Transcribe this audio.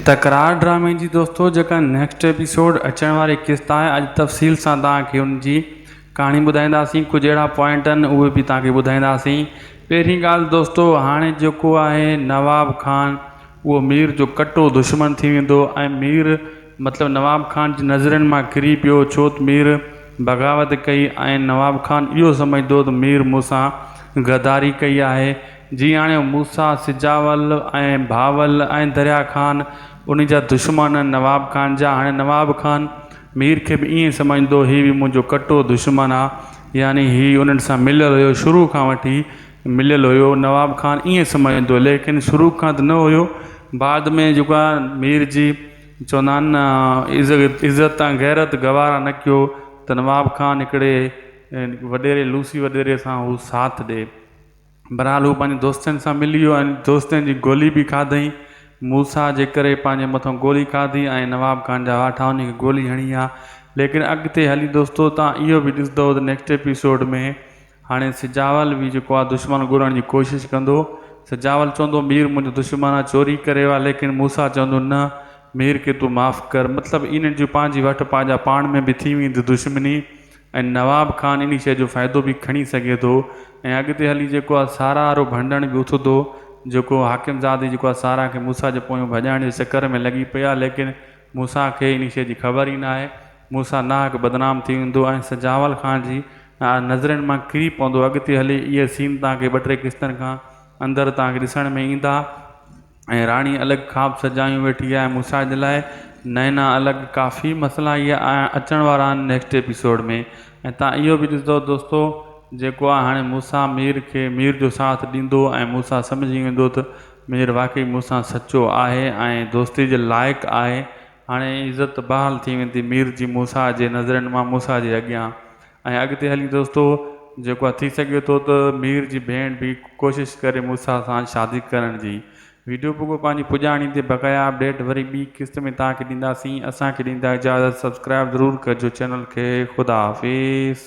تڪرار ڊرامي جي دوستو جيڪا نيڪسٽ ايپيسوڊ اچڻ واري قسط آهي اڄ تفصيل سان توهان کي ان جي ڪهاڻي ٻڌائينداسين ڪجهه اهڙا پوائنٽ آهن اهي به توهان کي ٻڌائينداسين پهرين ڳالهه دوستو هاڻي جيڪو آهي نواب خان اهو مير جو ڪٽو دشمن ٿي ويندو ۽ مير مطلب نواب خان جي نظرين مان ڪري پيو ڇو ته مير بغاوت ڪئي ۽ نواب خان اهو سمجهندو ته مير مون سان غداري ڪئي آهي جياڻيو موسيٰ سجاول ۽ بهاول ۽ دريا خان انهي جا دشمن نواب خان جا هاڻي نواب خان مير کي به ائين سمجهندو هي به منهنجو ڪٽو دشمن آ يعني هي انهن سان مليل هيو شروع کان وٺي مليل هيو نواب خان ائين سمجهندو ليڪن شروع کان ته نه هيو بعد ۾ جيڪو آ مير جي چوندا آهن نه عزت ۽ غيرت گوارا نه ڪيو ته نواب خان هڪڙي وڏيري لوسي وڏيري سان هو ساٿ ڏي. بھرحال ھو پنھنجي دوستن سان ملي ويو ۽ دوستن جي گولي به کاڌئين. موسيٰ جي ڪري پنھنجي مٿو گولي کاڌي ۽ نواب خان جا واٺا ان کي گولي ھڻي ھا. ليڪن اڳتي ھلي دوستو تھان اھو به ڏسندؤ ته نيڪسٽ ايپيسوڊ ۾ ھاڻي سجاول به جيڪو آ دشمن ڳولڻ جي ڪوشش ڪندو. سجاول چوندو مير منھنجو دشمن آ چوري ڪري ويو آ ليڪن موسيٰ چوندو نه مير کي تون معاف ڪر. مطلب انھن جون پنھنجي وٺ پاجا پاڻ ۾ به ٿي ويندي دشمني. ۽ نواب خان انهي شيء جو فائدو به کڻي سگهي ٿو ۽ اڳتي هلي جيڪو آ سارا وارو ڀنڊڻ به اٿندو، جيڪو حاڪم زادي جيڪو آ سارا کي موسيٰ جي پويون ڀڄائڻ جي چڪر ۾ لڳي پئي آ ليڪن موسيٰ کي انهي شيء جي خبر ئي ناهي، موسيٰ ناحق بدنام ٿي ويندو ۽ سجاول خان جي نظرين مان ڪري پوندو، اڳتي هلي اهي سين توهان کي ٻه ٽي قسطن کان اندر توهان کي ڏسڻ ۾ ايندا. ۽ راڻي الڳ خواب سجايون ويٺي آهي مون سان جي لاء نئنا الڳ ڪافي مسئلا ايئن آيا اچڻ وارا آهن نيڪسٽ ايپيسوڊ ۾ ۽ تان اهو به ڏسندو دوستو جيڪو آ هاڻي مون سان مير کي مير جو ساٿ ڏيندو ۽ مون سان سمجهي ويندو ته مير واقعي مون سان سچو آهي ۽ دوستي جي لائق آهي هاڻي عزت بحال ٿي ويندي مير جي مون سان جي نظرين مان مون سان جي اڳيان ۽ اڳتي هلي دوستو جيڪو آ ٿي سگهي ٿو ته مير جي ڀيڻ به ڪوشش ڪري موسيٰ سان شادي ڪرڻ جي. ويڊيو پوڳو پنهنجي پڄاڻي تي بقايا اپڊيٽ وري ٻي قسط ۾ توهان کي ڏينداسين اسان کي ڏيندا اجازت سبسڪرائب ضرور ڪجو چينل کي خدا حافظ.